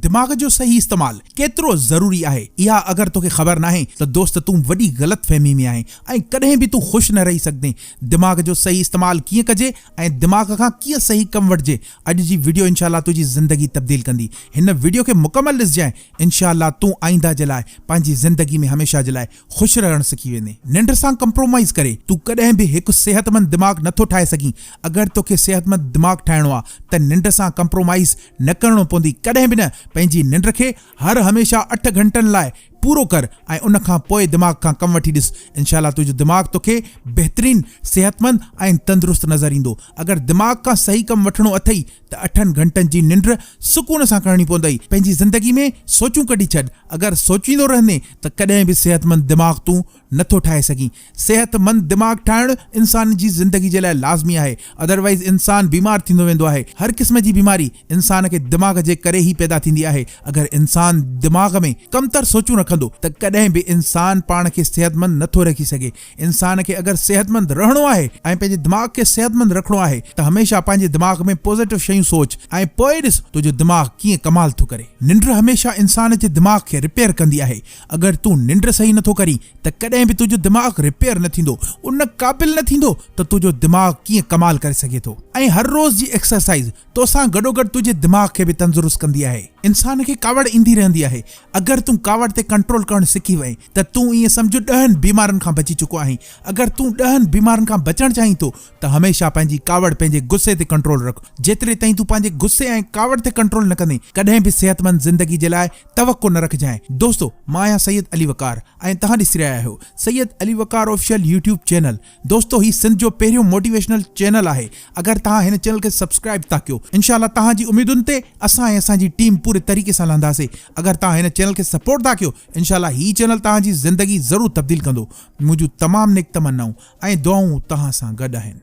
دماغ جو صحيح استعمال ڪيترو ضروري آهي اها اگر توکي خبر ناهي ته دوست تون وڏي غلط فهمي ۾ آهين ۽ ڪڏهن به تون خوش نه رهي سگهندين دماغ جو صحيح استعمال ڪيئن ڪجي ۽ دماغ کان ڪيئن صحيح ڪم وٺجي اڄ جي وڊيو انشاء الله تنهنجي زندگي تبديل ڪندي هن وڊيو کي مڪمل ڏسجانء انشاء الله تون آئنده جي لاء پنهنجي زندگي ۾ هميشه جي لاء خوش رهڻ سکي ويندين. ننڊ سان ڪمپرومائيز ڪري تون ڪڏهن به هڪ صحتمند دماغ نه ٿو ٺاهي سگهين. اگر توکي صحتمند دماغ ٺاهڻو آ ته ننڊ سان ڪمپرومائيز نه ڪرڻو پوندي ڪڏهن به نه. پنهنجي ننڊ کي هر هميشه اٺ گهنٽن لاء پورو ڪر ۽ ان کان پوء دماغ کان ڪم وٺي ڏس. انشاء الله تنهنجو دماغ توکي بهترين، صحتمند ۽ تندرست نظر ايندو. اگر دماغ کان صحيح ڪم وٺڻو اٿئي ته اٺن گهنٽن جي ننڊ سڪون سان ڪرڻي پوندئي. پنهنجي زندگي ۾ سوچون ڪڍي ڇڏ. اگر سوچيندو رهندين ته ڪڏهن به صحتمند دماغ تون نه ٿو ٺاهي سگهين. صحتمند دماغ ٺاهڻ انسان جي زندگي جي لاء لازمي آهي. اڌروائيز انسان بيمار ٿيندو ويندو آهي. هر قسم جي بيماري انسان کي دماغ جي ڪري ئي پيدا ٿيندي آهي. اگر انسان دماغ ۾ ڪمتر سوچون رکندو ته ڪڏهن به انسان پاڻ کي صحتمند نه ٿو رکي سگهي. انسان کي اگر صحتمند رهڻو آهي ۽ پنهنجي دماغ کي صحتمند رکڻو آهي ته هميشه پنهنجي دماغ ۾ پوزيٽو شيون سوچ ۽ پوء ڏس تنهنجو دماغ ڪيئن ڪمال ٿو ڪري. ننڊ هميشه انسان جي دماغ کي رپيئر ڪندي آهي، اگر تون ننڊ صحيح نٿو ڪرين ته ڪڏهن به تنهنجو دماغ رپيئر نه ٿيندو، ان قابل نه ٿيندو ته تنهنجو دماغ ڪيئن ڪمال ڪري سگهي ٿو ۽ هر روز جي ايڪسرسائيز توسان گڏوگڏ تنهنجي دماغ کي به تندرست ڪندي آهي. انسان کي ڪاوڙ ايندي رهندي آهي، اگر تون ڪاوڙ تي ڪنٽرول ڪرڻ سکي وئين ته تون ائين سمجهه ڏهن بيمارين کان بچي چڪو آهين. اگر تون ڏهن بيمارين کان بچڻ چاهين ٿو ته هميشه پنهنجي ڪاوڙ پنهنجي غصي تي ڪنٽرول رک. جيتري تائين تون پنهنجي غصي ۽ ڪاوڙ تي ڪنٽرول نه ڪندين ڪڏهن به صحتمند زندگي جي لاء توقع نه رکجانء. دوستو مان آهيان سيد علي وقار ۽ توهان ڏسي رهيا آهيو Syed Ali Waqar official YouTube channel. دوستو هي سنڌ جو پهريون موٽيويشنل چينل آهي اگر توهان هن چينل کي سبسڪرائيب ٿا ڪيو انشاء الله توهان جي اميدن تي اسان ۽ اسان جي ٽيم پوري طريقي سان لهنداسي اگر توهان هن چينل کي سپورٽ ٿا ڪيو انشاء الله هي چينل توهان جي زندگي ضرور تبديل ڪندو منهنجون تمام نيڪ تمنائون ۽ دعائون توهان سان گڏ آهن.